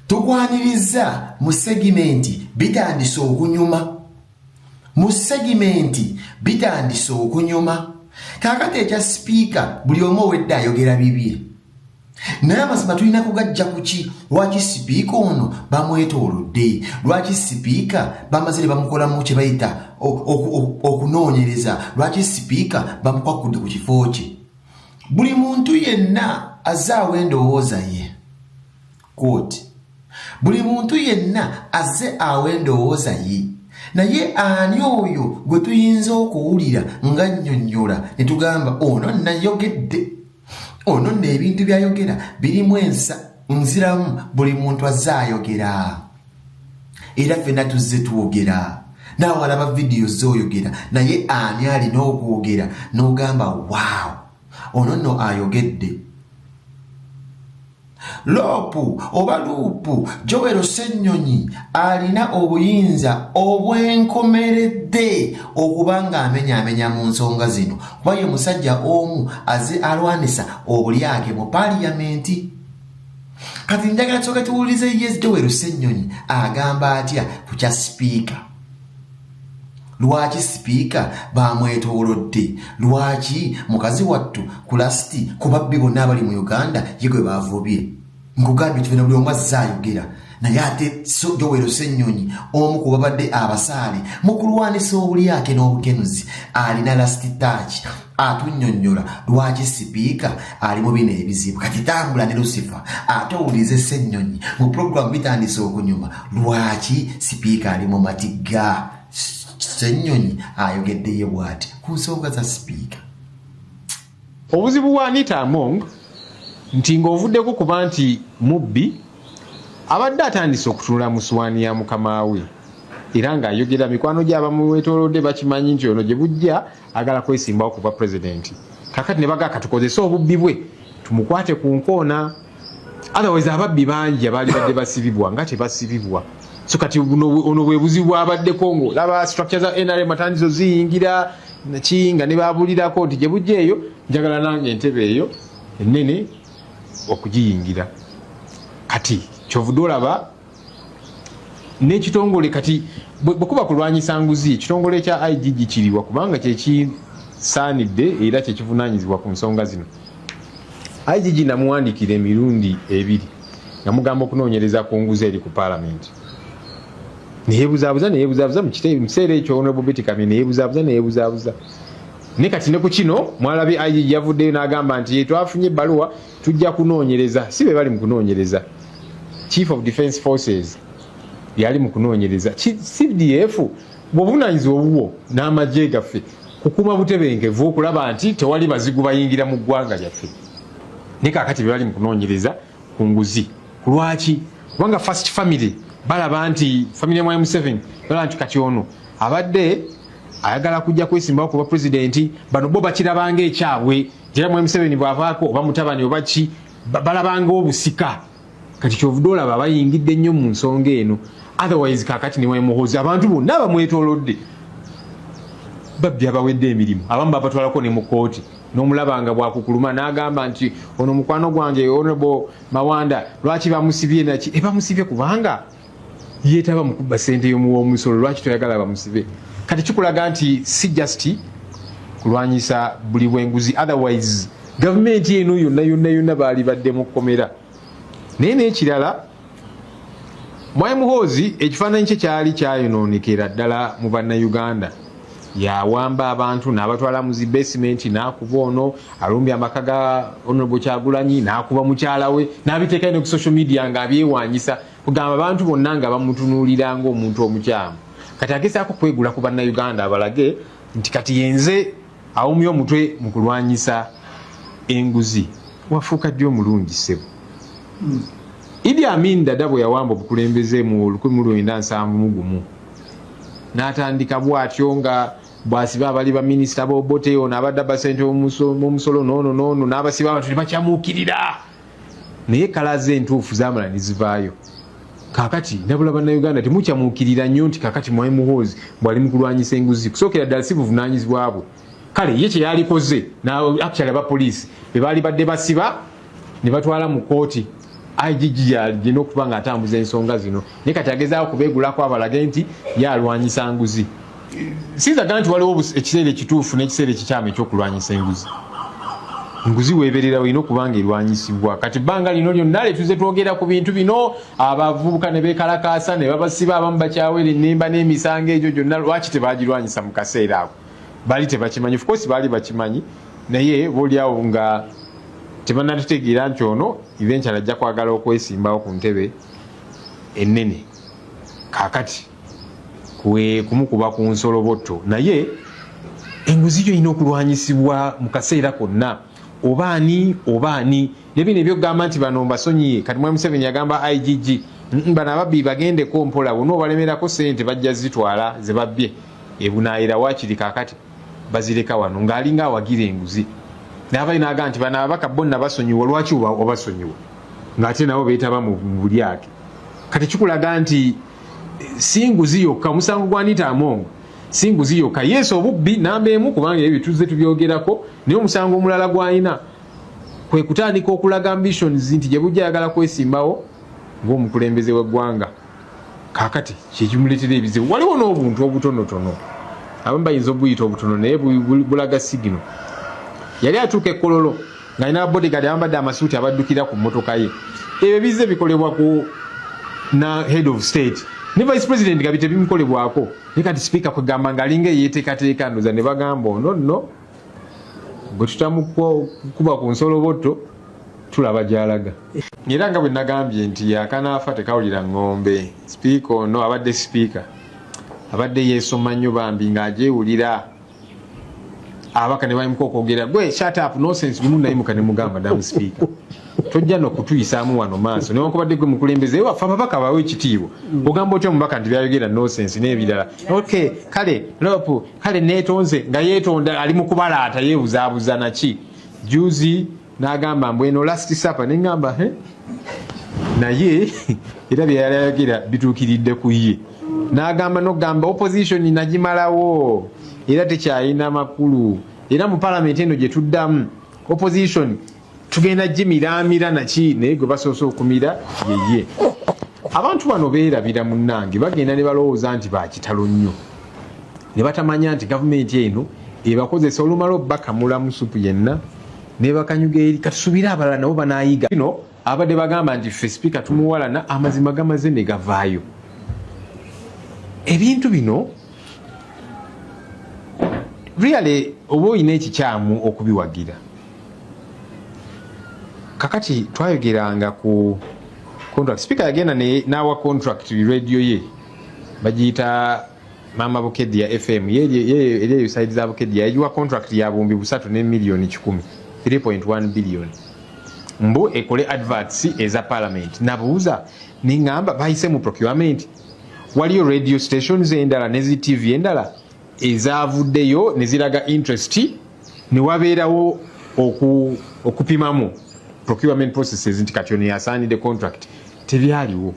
Tukwanirizza mu segimenti bitandise okunyuma. Mu segimenti bitandise okunyuma. Kaakati ekya sipiika buli omu owedde ayogera bibye. naye amazima tulina kugajja kuki lwaki sipiika ono bamwetoolodde lwaki sipiika bamaze ne bamukolamu kye bayita okunoonyereza lwaki sipiika bamukwakudde ku kifo kye buli muntu yenna azaawo endowooza ye Quote, buli muntu yenna azze awa endowooza ye naye ani oyo gwe tuyinza okuwulira nga nnyonnyola ne tugamba ono nayogedde ono nno ebintu byayogera birimu ensa nziramu buli muntu azze ayogera era ffenna tuzze twogera naawe alaba vidiyo zooyogera naye ani alina okwogera n'ogamba waawo ono nno ayogedde loopu oba luupu jowero ssennyonyi alina obuyinza obwenkomeredde okuba ng'amenyaamenya mu nsonga zino kuba ye musajja omu aze alwanisa obulyake mu paliyamenti kati njagala kyoka tuwulize yes jowero ssennyonyi agamba atya ku kya sipiika lwaki sipiika baamwetoolodde lwaki mukazi wattu kulasiti ku babbi bonna abali mu uganda ye gwe baavubye nkugambye tubena buli omu azze ayogera naye ate jowero ssennyonyi omu ku babadde abasaale mu kulwanisa obulyake n'obukenuzi alina lasiti taaki atunyonyola lwaki sipiika ali mu bino ebizibu kati tambula ne lusifa ate owulize ssennyonyi mu pulogulaamu bitandise okunyuma lwaki sipiika ali mu matigga ssennyonyi ayogeddeye bwati ku nsonga za sipiika obuzibu bwa anita among nti ng'ovuddeko kuba nti mubbi abadde atandise okutunula mu swaani ya mukama we era ng'ayogera mikwano gy'abamwetolodde bakimanyi nti ono gye bujja agala kwesimbawo kuba president kakati ne baga katukozese obubbi bwe tumukwate ku nkoona otherwise ababbi bangi abaali badde basibibwa nga tebasibibwa so kati ono bwe buzibu bwabaddeko ngo laba structure za nrm atandizo ziyingira ki nga ne babulirako nti gye bujja eyo njagala nange entebe eyo ennene okugiyingira kati kyovude olaba n'ekitongole kati bwekuba kulwanyisa nguzi ekitongole kya igg kiriwa kubanga kyekisaanidde era kyekivunaanyizibwa ku nsonga zino igg namuwandikira emirundi ebiri nga mugamba okunoonyereza ku nguzi eri ku paalamenti neyebuzaabuza neyebuzaabuza mu kiseera ekyo honorable betty kamye neyebuzaabuza neyebuzaabuza ne kati ne ku kino mwalabi igg yavuddeyo n'agamba nti yetwafunye ebbaluwa tujja kunoonyereza si be bali mu kunoonyereza chief of defence forces yali mu kunoonyereza cdf bwobuvunanyizibwa obubwo n'amagye gaffe kukuuma butebenkevu okulaba nti tewali bazigu bayingira mu ggwanga lyaffe ne kakati bebali mu kunoonyereza ku nguzi ku lwaki kubanga first family balaba nti family ya mwai museven balaba nti kati ono abadde ayagala kujja kwesimbawo kuba pulezidenti bano bo bakirabanga ekyabwe era mwami museveni bwavaako oba mutabani oba ki balabanga obusika kati kyovude olaba bayingidde nnyo mu nsonga eno otherwise kakati newemuhozi abantu bonna abamwetolodde babbi abawedde emirimu abamu babatwalako ne mu kooti nomulaba nga bwakukuluma nagamba nti ono mukwano gwange honorable mawanda lwaki bamusibye naki ebamusibye kubanga yetaba mukubba sente yomuwomusolo lwaki toyagala bamusibe kati kikulaga nti si just kulwanyisa buli bwenguzi otherwise gavumenti eno yonna yonna yonna baali badde mu kkomera naye nekirala mwai muhoozi ekifaananyi kye kyali kyayonoonekera ddala mu bannayuganda yawamba abantu n'abatwala mu zi basementi n'akuba ono alumbye amaka ga honorable kyagulanyi n'akuba mukyala we n'abiteekayo ne ku social media ng'abyewanyisa kugamba abantu bonna nga bamutunuulira ng'omuntu omukyamu kati agezaako kwegula ku bannayuganda abalage nti kati yenze awumya omutwe mu kulwanyisa enguzi wafuuka ddi omulungi ssebo hmm. idi amin dada bwe yawamba obukulembeze mu 1971 n'atandika bw'atyo nga bwasiba abali baminisita bobote ono abadde abasente omusolo noono noono n'abasiba abantu tebakyamuukirira naye kalaze entuufu zamala nezivaayo kakati nabula bannauganda temukyamuukirira nnyo nti kakati mwai muhoozi bwali mukulwanyisa enguzi kusookera ddala si buvunanyizibwa bwe kale ye kye yalikoze actually aba poliisi be baali badde basiba ne batwala mu kkooti igg yalina okuba nga atambuza ensonga zino naye kati agezaako kubeegulako abalage nti ye alwanyisa nguzi sinzaga nti waliwo ekiseera ekituufu n'ekiseera ekikyamu ekyokulwanyisa enguzi enguzi weebererawo erina okuba nga erwanyisibwa kati bbanga lino lyonna letuze twogera ku bintu bino abavubuka ne beekalakaasa ne babasiba abamu bakyaweera ennemba n'emisango egyo gyonna lwaki tebaagirwanyisa mu kaseera ako baali tebakimanyi of course baali bakimanyi naye boliawo nga tebanatutegeera nti ono eventual ajja kwagala okwesimbawo ku ntebe ennene kakati kumukuba ku nsolobotto naye enguzi yo erina okulwanyisibwa mu kaseera konna oba ani oba ani nebino ebyokugamba nti bano mbasonyiye kati mwami museveni yagamba igg bano ababbi bagendeko mpola bona obalemerako sente bajja zitwala zebabbye ebunayira wakiri kakati bazireka wano ngaalinga awagira enguzi nabayo naga nti bano ababaka bonna basonyiwa lwaki obasonyiwa ngaate nabo betaba mu bulyake kati kikulaga nti eh, si nguzi yokka omusango gwanita amongo si nguzi yokka yesu obubbi namba emu kubanga ebyo tuzze tubyogerako naye omusango omulala gwalina kwe kutandika okulaga ambitions nti gye bujja ayagala kwesimbawo ng'omukulembeze w'eggwanga kakati kyekimuleetera ebizibu waliwo n'obuntu obutonotono abamu bayinza obuyita obutono naye bulaga sigino yali atuuka ekololo ngaalina babodigad abambadde amasuuti abaddukira ku mmotoka ye ebyo bizze bikolebwa ku na head of state ne vice president nga bitebimukolebwako naye kati sipiika kwegamba ngaalinga eyeteekateeka ndoza ne bagamba ono nno bwe tutamukuba ku nsolobotto tulaba gyalaga era nga bwe nagambye nti yakanaafa tekawulira ng'ombe sipiika ono abadde sipiika abadde yeesoma nnyo bambi ng'agyewulira abaka ne bayimuka okwogera gwe shatapu nosense lumu nayimuka ne mugamba damu sipiika tojja nokutuyisaamu wano maaso newankubadde gwe mukulembeze waffe ababaka bawe ekitiibwa ogamba otya omubaka nti byayogera nosense n'ebirala ok kale lopu kale netonze nga yetonda ali mukubalaata yebuzabuza naki juzi nagamba mbu eno last supper nengamba he naye era byeyali ayogera bituukiridde ku ye nagamba nogamba opposition nagimalawo era tekyalina makulu era mu palamenti eno gyetuddamu opposition tugenda gimiraamira nakiine gwe basoose okumira yeye abantu bano beerabira munnange bagenda ne balowooza nti bakitalo nnyo ne batamanya nti gavumenti eno ebakozesa olumala obakamula musupu yenna nebakanyuga eri katusubire abalala nabo banayiga no abadde bagamba nti ffe sipiika tumuwalana amazima gamaze ne gavaayo ebintu bino really oba olina ekikyamu okubiwagira kakati twayogeranga ku contract speaker yagenda n'awa contract radio ye bagiyita maama bukeddi ya fm eri eyo saidi za bukeddi yayiwa contract ya bumbi busatu ne miliyoni kikumi 3.1 biliyoni mbu ekole adverts eza parliament nabuuza neŋamba bayise mu procurement waliyo radio stations endala nezi tv endala ezavuddeyo ne ziraga interest ne wabeerawo oku, okupimamu procurement processes nti kati ono yasaanidde contract tebyaliwo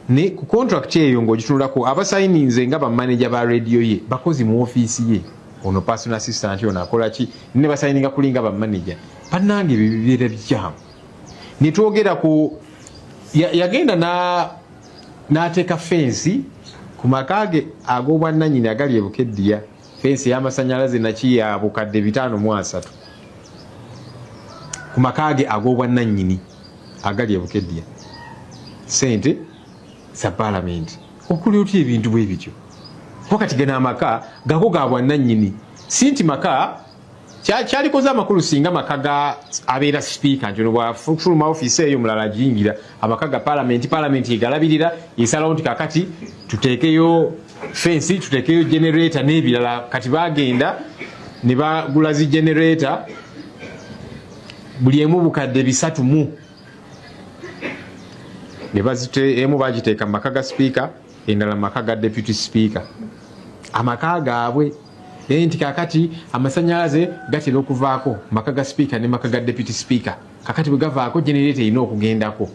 ne ku contract eyo ng'ogitunulako abasayininze nga bamaneja ba rediyo ye bakozi mu ofiisi ye ono personal assistant ono akola ki ne basayininga kulinga bamaneja bannange bibeera bikyamu ne twogera ku yagenda ya na n'ateeka fensi ku maka ge ag'obwannanyini agali e Bukeddiya, fensi ey'amasannyalaze naki ya bukadde bitaano mu asatu ku maka ge ag'obwannanyini agali e Bukeddiya, ssente za Palamenti. Okola otya ebintu bwe bityo? Wakati gano amaka gago ga bwannanyini, si nti maka kyalikoze amakulu singa amaka ga abeera sipiika nti ono bwafuluma ofiisi eyo mulala ajingira amaka ga palamenti palamenti egalabirira esalawo nti kakati tuteekeyo fensi tuteekeyo generata n'ebirala kati bagenda ne bagula zi generata buli emu bukadde bisatu mu emu bagiteeka mu maka ga sipiika endala mu maka ga deputy sipiika amaka gaabwe naye nti kakati amasanyalaze gatera okuvaako maka ga sipiika ne maka ga deputy sipiika kakati bwe gavaako genereeta erina okugendako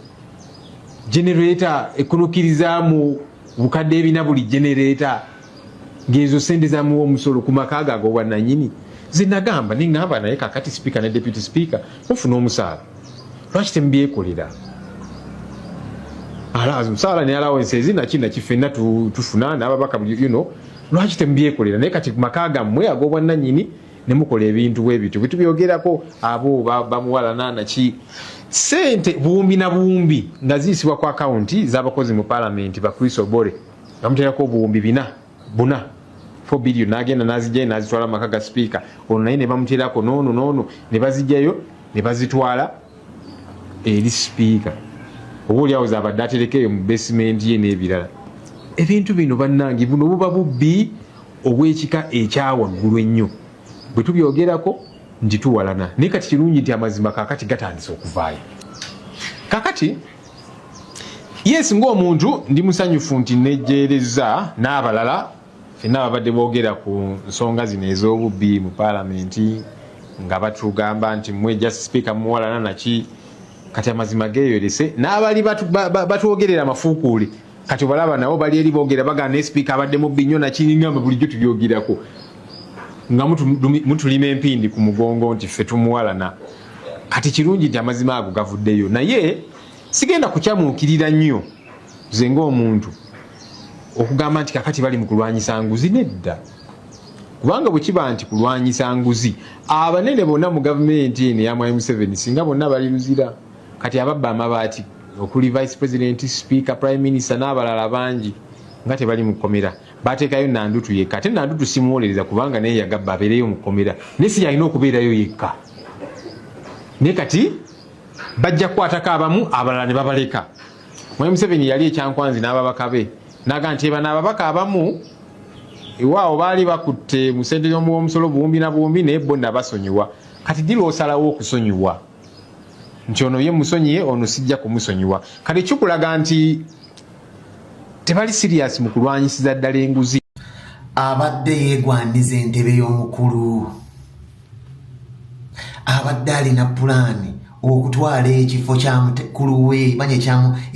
genereeta ekunukiriza mu bukadde ebina buli genereeta ngezo sente zamuwa omusolo ku maka ago agobwananyini zinagamba ningamba naye kakati sipiika ne deputy sipiika mufuna omusaala lwaki temubyekolera omusaala ne alawensi ezinakina kifenna tufuna nababaka you know lwaki temubyekolera naye kati maka gammwe ag'obwannanyini ne mukola ebintu bwe bityo bwetubyogerako abo bamuwalananaki sente buwumbi na buwumbi nga ziyisibwa ku akawunti z'abakozi mu palamenti ba chris obore bamuterako obuwumbi bina buna fobiliyo nagenda nazijjayo nazitwala mu maka ga sipiika ono naye ne bamuterako noono noono ne bazijjayo ne bazitwala eri sipiika oba oli awo zabadde aterekeyo mu basementi ye n'ebirala ebintu bino bannange buno buba bubbi obw'ekika ekyawaggulu ennyo bwe tubyogerako nti tuwalana naye kati kirungi nti amazima kakati gatandise okuvaayo kakati yes ng'omuntu ndi musanyufu nti nejjeerezza n'abalala fenna babadde boogera ku nsonga zino ez'obubbi mu paalamenti nga batugamba nti mwe just sipiika muwalana naki kati amazima geeyolese n'abali batwogerera amafuukuule kati obalaba nabo bali eri boogera bagana naye sipiika abadde mubbi nnyo nakiringamba bulijjo tubyogerako nga mutulima empindi ku mugongo nti ffe tumuwalana kati kirungi nti amazima ago gavuddeyo naye sigenda kukyamuukirira nnyo nze ngaomuntu okugamba nti kakati bali mu kulwanyisa nguzi nedda kubanga bwe kiba nti kulwanyisa nguzi abanene bonna mu gavumenti eno eyamwayi museveni singa bonna bali luzira kati ababba amabaati okuli vice president speaker prime minister n'abalala bangi nga tebali mu kkomera bateekayo nandutu yekka ate nandutu simuwolereza kubanga naye yagabba abeereyo mu kkomera naye si yalina okubeerayo yekka naye kati bajja kukwatako abamu abalala ne babaleka Mwami Museveni yali ekyankwanzi n'ababaka be naga nti ebano ababaka abamu ewaawo baali bakutte mu sente y'omuwomusolo buwumbi na buwumbi naye bo nabasonyiwa kati dira osalawo okusonyiwa nti ono ye musonyiye ono sijja kumusonyiwa kati kikulaga nti tebali siriyasi mu kulwanyisiza ddala enguzi abadde yeegwandiza entebe y'omukulu abadde alina pulaani okutwala ekifo kyamukulu we banye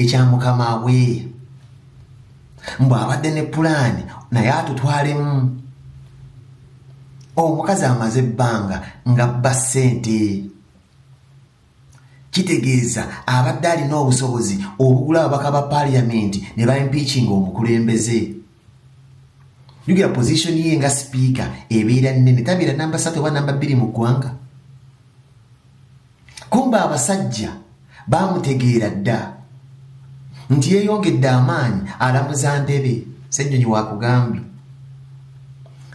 ekyamukama we mbu abadde ne pulaani naye atutwalemu omukazi amaze ebbanga nga bba ssente kitegeeza abadde alina obusobozi obugula ababaka ba paaliyamenti ne ba impeachinga omukulembeze yugira position ye nga sipiika ebeera nnene tabeera namba satu oba namba bbiri mu ggwanga kumba abasajja baamutegeera dda nti yeeyongedde amaanyi alamuza ndebe ssennyonyi wakugambye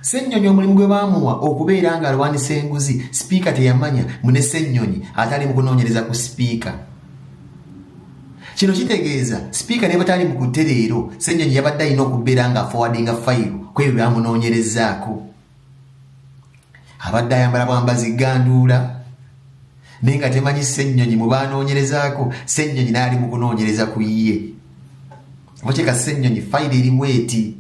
Ssenyonyi omulimu gwe baamuwa okubeera ng'alwanyisa enguzi sipiika teyamanya mbu ne Ssenyonyi atali mu kunoonyereza ku sipiika. Kino kitegeeza sipiika ne batali mu kutte leero Ssenyonyi yabadde alina okubeera ng'afowadinga fayiro ku ebyo byamunoonyerezaako. Abadde ayambala bwambazi ganduula naye nga temanyi Ssenyonyi mu baanoonyerezaako Ssenyonyi n'ali mu kunoonyereza ku ye. Oba kyeka Ssenyonyi fayiro erimu eti.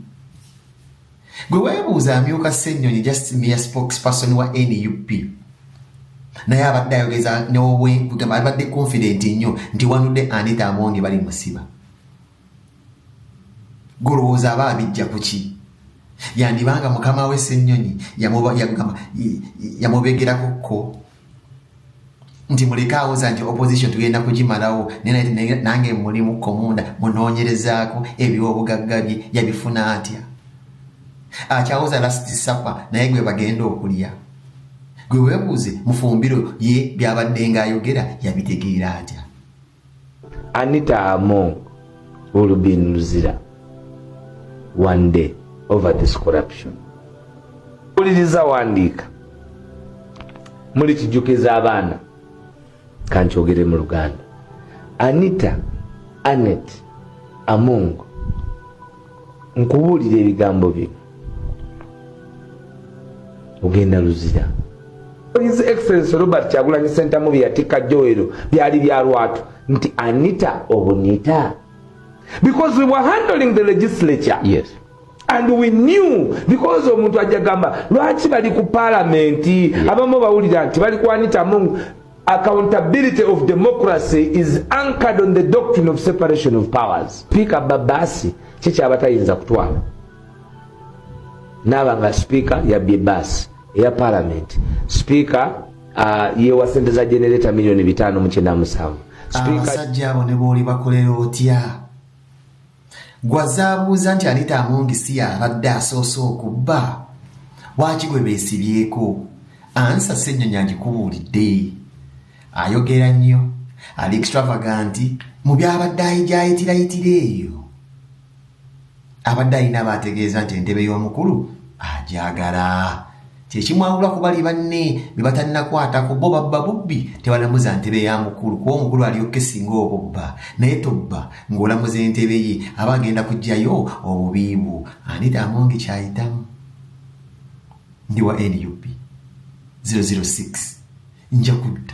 gwe webuuza amyuka ssenyonyi just mere spokesperson wa nup naye abadde ayogeza newobwegamba abadde confident nnyo nti wanudde anita amonge bali musiba golowooza aba abijja kuki yandibanga mukama we ssenyonyi yamubegerako ko nti muleke awoza nti opposition tugenda kugimalawo nange mulimu komunda munoonyerezaako ebyobugagga bye yabifuna atya akyawoza lasiti sapa naye gwe bagenda okulya gwe webuuze mufumbiro ye byabadde nga ayogera yabitegeera atya Anita Among will be in Luzira one day over this corruption. Uliriza wandiika muli kijukiza abaana kankyogere mu Luganda. Anita Anet Among nkubuulira ebigambo bye ogenda luzira his excellence robert kyagulanyi sentamu byeyatikka joero byali bya lwatu nti anita obunita because we were handling the legislature yes and we knew because omuntu ajja gamba lwaki bali ku palamenti abamu bawulira nti bali kwanitamu Accountability of democracy is anchored on the doctrine of separation of powers. Speaker Babasi kyekyaba tayinza kutwala naaba nga sipiika yabbye baasi eya palamenti sipiika uh, yewa sente za generata miliyoni bitaano mukyenda musanvu abasajja abo ne booli bakolera otya gwazaabuuza nti anita amongi si yabadde asoose okubba lwaki gwe beesibyeko ansa ssennyonyi agikubuulidde ayogera nnyo ali extravaganti mu byabadde ayijayitirayitira eyo abadde alina baategeeza nti entebe y'omukulu agyagala kyekimwawula ku bali banne be batannakwatako bo babba bubbi tebalamuza ntebe ya mukulu kuba omukulu aliyo kesinga obubba naye tobba ng'olamuza entebe ye aba agenda kugjayo obubiibwo anita amongi kyayitamu ndi wa nup 006 nja kudda